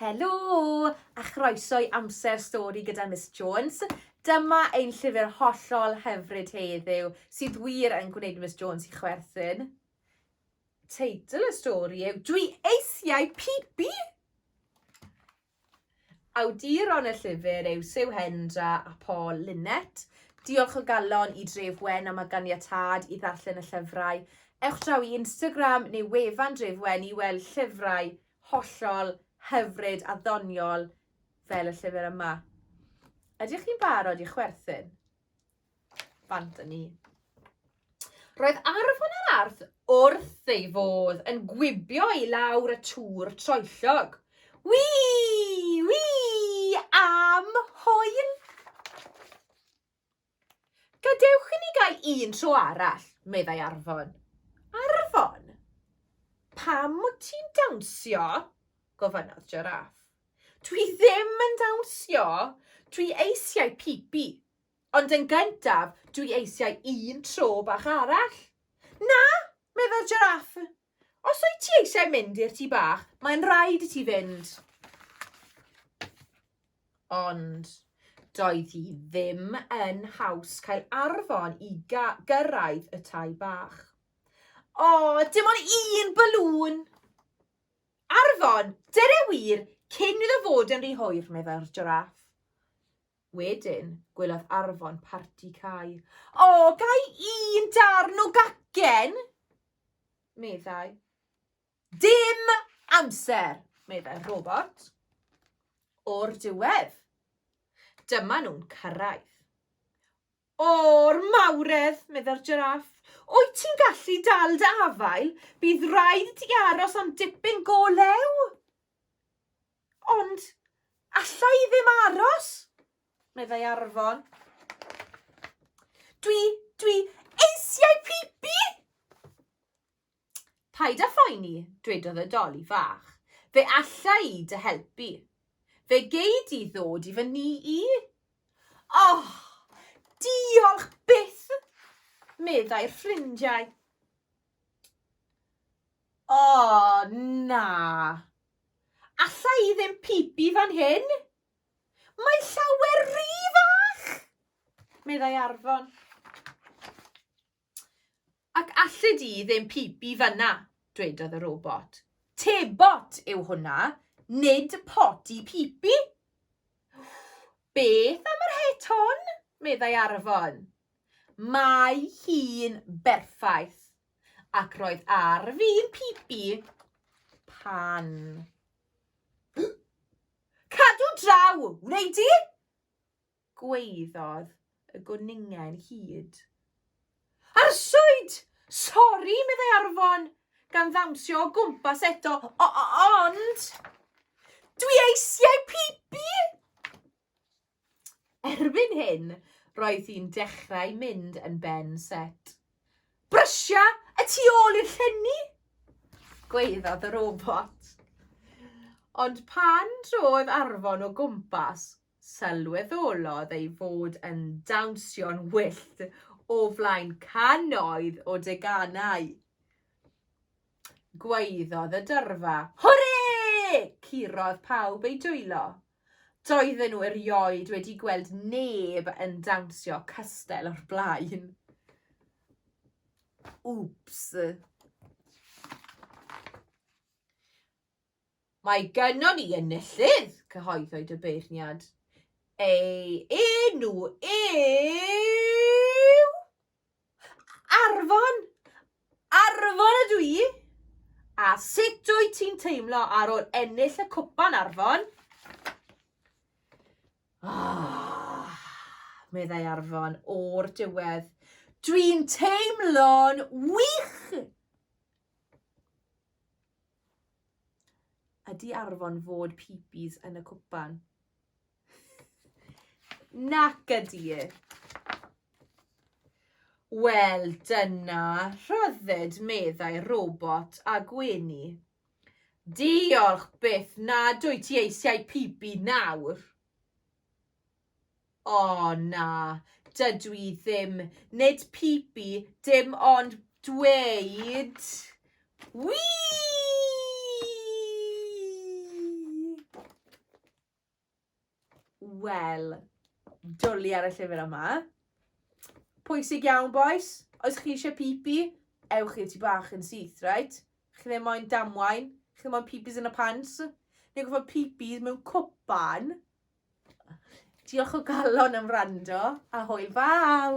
Helo! A chroeso i Amser Stori gyda Miss Jones. Dyma ein llyfr hollol hyfryd heddiw, sydd wir yn gwneud Miss Jones i chwerthin. Teitl y stori yw Dwi eisiau pipi! Awduron y llyfr yw Sue Hendra a Paul Linnet. Diolch o galon i Dref Wen am y ganiatâd i ddarllen y llyfrau. Ewch draw i Instagram neu wefan Dref Wen i weld llyfrau hollol hyfryd a ddoniol fel y llyfr yma. Ydych chi'n barod i chwerthin? Bant yn ni. Roedd arfon yr arth wrth ei fodd yn gwibio i lawr y tŵr troellog. Wi! Wi! Am hwyl! Gadewch i ni gael un tro arall, meddai Arfon. Arfon! Pam wyt ti'n dawnsio? gofynnodd Jiráff. Dwi ddim yn dawnsio, dwi eisiau pipi. Ond yn gyntaf, dwi eisiau un tro bach arall. Na! meddai'r Jiráff. Os wyt ti eisiau mynd i'r tŷ bach, mae'n rhaid i ti fynd. Ond doedd hi ddim yn haws cael arfon i gyrraedd y tai bach. O, dim ond un balŵn! Arfon, dyna wir, cyn iddo fod yn rhy hwyr, meddai'r jiraff. Wedyn, gwelodd Arfon parti cau. O, gai un darn o gacen? meddai. Dim amser, meddai'r robot. O'r diwedd. Dyma nhw'n cyrraedd. O'r mawredd, meddai'r jiraff. Wyt ti'n gallu dal dy afael? Bydd rhaid ti aros am dipyn go lew. Ond alla i ddim aros! meddai Arfon. Dwi, dwi eisiau pipi! Paid â phoeni, dwedodd y doli fach. Fe alla i dy helpu. Fe gei di ddod i fy ni i. Oh, diolch byth, meddai'r ffrindiau. O, na, Alla i ddim pibi fan hyn! Mae llawer ry fach! meddai Arfon. Ac alli di ddim pibi fyna, dwedodd y robot. Tebot yw hwnna, nid poti pibi! Beth am yr het hon? meddai Arfon. Mae hi'n berffaith, Ac roedd ar fi'n pipi pan. Cadw draw, wneud di? Gweiddodd y gwningen hyd. Arswyd! Sori, meddai Arfon, gan ddawnsio o gwmpas eto, ond... Dwi eisiau pipi! Erbyn hyn, roedd hi'n dechrau mynd yn ben set. Brysio y tu ôl i'r llenni! Gweiddodd y robot. Ond pan drodd arfon o gwmpas, sylweddolodd ei fod yn dawnsio'n wyllt o flaen cannoedd o deganau. Gweiddodd y dyrfa. Hwrê! Curodd pawb eu dwylo. Doedden nhw erioed wedi gweld neb yn dawnsio castell o'r blaen. Oops. Mae gynnon ni enillydd, cyhoeddwyd y beirniad. Ei enw yw... Arfon! Arfon ydw i! A sut wyt ti'n teimlo ar ôl ennill y cwpan, Arfon? Ah, meddai Arfon o'r diwedd. Dwi'n teimlo'n wych! Ydy Arfon fod pipis yn y cwpan? Nac ydi. Wel, dyna rhyddid, meddai robot a gwenu. Diolch byth nad wyt ti eisiau pibi nawr. O na, dydw i ddim, nid pibi, dim ond dweud... Wii! Wel, dwli ar y llyfr yma. Pwysig iawn, boys. Oes chi eisiau pipi, ewch i'r tu bach yn syth, right? Chi ddim moyn damwain, chi ddim moyn pipis yn y pants. Neu gofod pipis mewn cwpan. Diolch o galon am rando, a hwyl fawr!